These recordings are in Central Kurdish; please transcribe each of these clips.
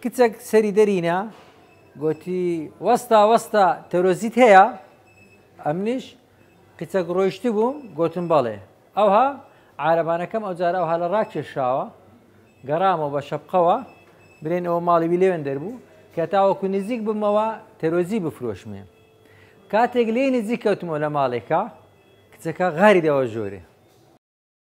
کچەک سەری دەرینا گۆتی وەستا وەستا تەرۆزیت هەیە ئەمنیش قچەک ڕۆیشت بووم گۆتم بەڵێ ئەوها عربانەکەم ئەو جارە ئەوها لە ڕاکێشاوە گەڕامەوە بە شەپقەوە برێن ئەوە ماڵیوی لێوێن دەربوو کە تاوەکو نزیک بمەوە تەرۆزی بفرۆشمێ کاتێک لێ نزیک کەوتمەوە لە ماڵێکە کچەکە غاری دەوە ژۆرێ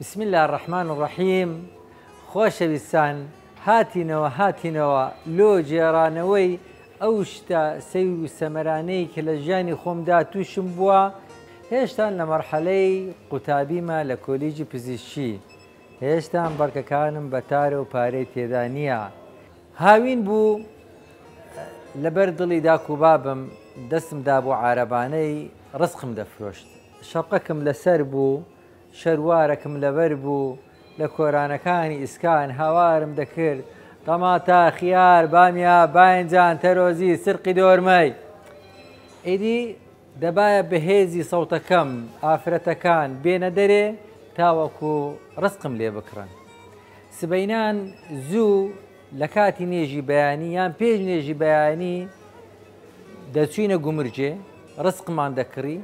بسم اللە الرحمن الرحیم خۆشەویستان هاتینەوە هاتینەوە لۆ گێرانەوەی ئەو شتە سەیر و سەمەرانەی کە لە ژیانی خۆمدا تووشم بووە هێشتان لە مەرحەلەی قوتابیمە لە کۆلیجی پزیشکی هێشتان بەڕکەکانم بە تارە و پارەی تێدا نییە هاوین بوو لەبەر دڵی داک و بابم دەستم دابوو عربانەی ڕسقم دەفرۆشت شەقەکم لەسەر بوو شەروارەکم لەبەر بوو لە کۆرانەکانی ئیسکان هاوارم دەکرد، تەماتە، خیار، بامیا، باینجان، تەرۆزی، سرقی دۆرمەی. ئیدی دەبایە بە هێزی سەوتەکەم ئافرەتەکان بێنە دەرێ تاوەکو ڕسقم لێ بکڕن. سبەینان زوو لە کاتی نوێژی بەیانی یان پێش نوێژی بەیانی دەچووینە گومرجێ، ڕسقمان دەکڕی،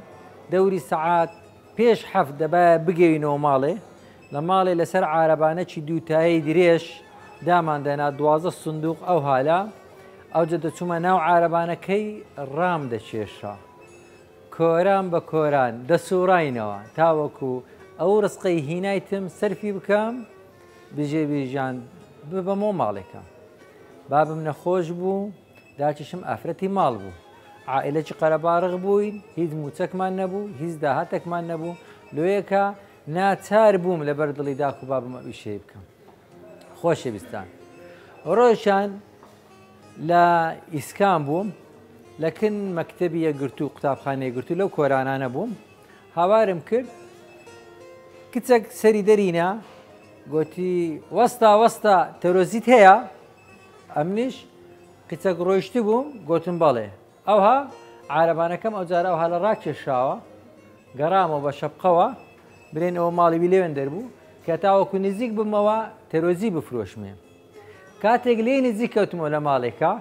دەوری سەعات پێش حەفت دەبایە بگەینەوە ماڵێ، لە ماڵێ لەسەر عارەبانەکی دوو تایەی درێژ دامان دەنا، دوازدە سندووق ئەو هالە، ئەوجە دەچوومە ناو عارەبانەکەی ڕام دەکێشا. کۆران بە کۆران دەسووڕاینەوە تاوەکوو ئەو ڕسقەی هینایتم سەرفی بکەم، بژێوی ژیان ببەمەوە ماڵێکم. بابم نەخۆش بوو. داکیشم ئافرەتی ماڵ بوو. عائیلەکی قەرەباڕغ بووین، هیچ مووچەکمان نەبوو، هیچ داهاتێکمان نەبوو، لۆیەکا ناچار بووم لەبەر دڵی داک و بابم ئەو ئیشەی بکەم. خۆشەویستان. ڕۆژان لە ئیسکان بووم، لە کن مەکتەبی یەکگرتوو و قوتابخانەی یەکگرتوو لەو کۆرانانە بووم، هاوارم کرد، کچێک سەری دەرینا، گوتی، وەستا وەستا، تەرۆزیت هەیە؟ ئەمنیش قیچەک ڕۆیشتبووم گۆتم بەڵێ ئەوها عربانەکەم ئەو جارە ئەوها لە ڕاکێشاوە گەڕامەوە بە شەپقەوە برێن ئەوە ماڵی ویلێن دەربوو کە تاوەکو نزیک بمەوە تەرۆزی بفرۆشمێ کاتێک لێ نزیک کەوتمەوە لە ماڵێکە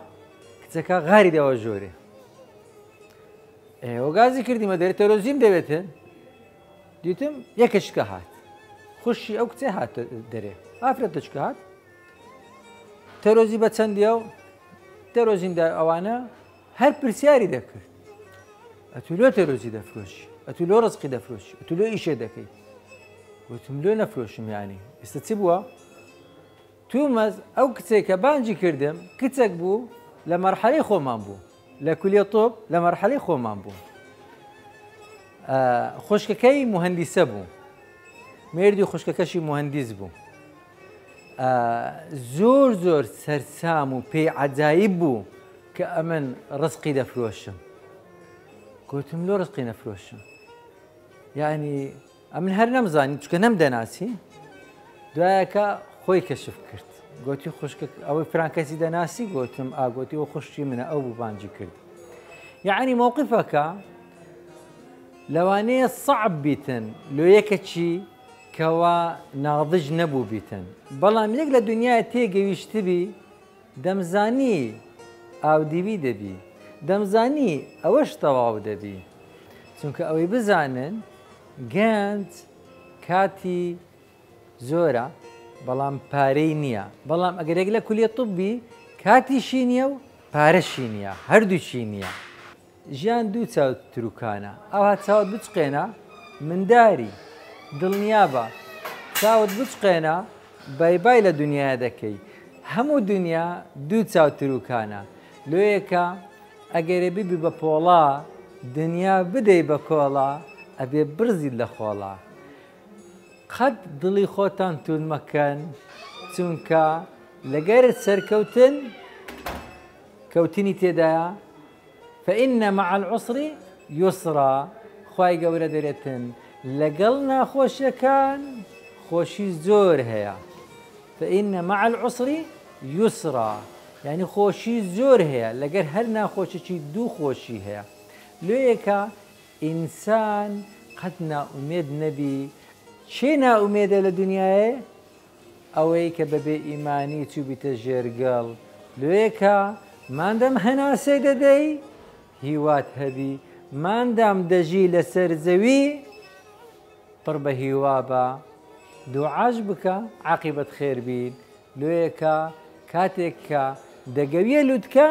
کچەکە غاری دەوە ژۆرێ ئێوە گازی کردیمە دەێت تەرۆزیم دەوێتن دیتم یەکە شکە هات خوشی ئەو کچێ هات دەرێ ئافرەت دەچکە هات تەرۆزی بە چەندە و تەرۆزیمدا ئەوانە هەر پرسیاری دەکرد ئەتو لۆ تەرۆزی دەفرۆشی ئەتو لۆ ڕزقی دەفرۆشی ئەتو لۆ ئیشێ دەکەیت وتم لۆ نەفرۆشم یانی ئێستا چ بووە تومەز ئەو کچێکە بانجی کردم کچێک بوو لە مەرحەلەی خۆمان بوو لە کولیە طب لە مەرحەلەی خۆمان بووم خوشکەکەی مهندیسە بوو مێردی خوشکەکەشی مهندیس بوو زۆر زۆر سەرسام و پێی عجایب بوو کە ئەمن ڕزقی دەفرۆشم گوتم لۆ ڕزقی نەفرۆشم یعنی ئەمن هەر نەمزانی چکە نەم دەناسی دوایەکە خۆی کەشف کرد گوتی خوشک ئەوەی فران کەسی دەناسی گوتم ئاگوتی و خوشتی منە ئەو بانجی کرد یعنی مووقفەکە لەوانەیە سەعب بیتن لۆ یەکەچی کەوا ناضج نەبوو بیتن بەڵام یەک لە دنیای تێگەویشتبی دەمزانی ئاودیوی دەبی. دەمزانی ئەوەش تەواو دەبی. چونکە ئەوەی بزانن گەنج کاتی زۆرە بەڵام پارەی نییە، بەڵام ئەگەر یەک لە کولیە طب بی کاتیشی نییە و پارەشی نییە، هەردووکی نییە. ژیان دوو چاو تروکانە ئاوها چاوت بچقێنە منداری دڵنیابە چاوت بچقێنە بای بای لە دونیایا دەکەی هەموو دونیا دوو چاو تروکانە لۆیەکە ئەگەرێ ببی بە پۆڵا دونیا بدەی بە کۆڵا ئەبێ برزیت لە خۆڵا قەت دڵی خۆتان تون مەکەن چونکە لەگەر سەرکەوتن کەوتنی تێدایە فإن مع العسر یسرا، خوای گەورە دەرێتن، لەگەڵ ناخۆشیەکان خۆشی زۆر هەیە، فإن مع العسر یسرا، یانی خۆشی زۆر هەیە، لەگەر هەر ناخۆشیەکی دوو خۆشی هەیە، لۆیەکە ئینسان قەت نائومێد نەبی، کێ نائومێدە لە دنیاێ؟ ئەوەی کە بە بێ ئیمانی چوبیتە ژێر گڵ لۆیێ کا مادەم هەناسەی دەدەی هیوات هەبی مادام دەژی لە سەر زەوی پڕ بە هیوا بە دوعاش بکە عاقیبەت خێر بیت لۆیێ کا کاتێک کە دەگەویە لوتکە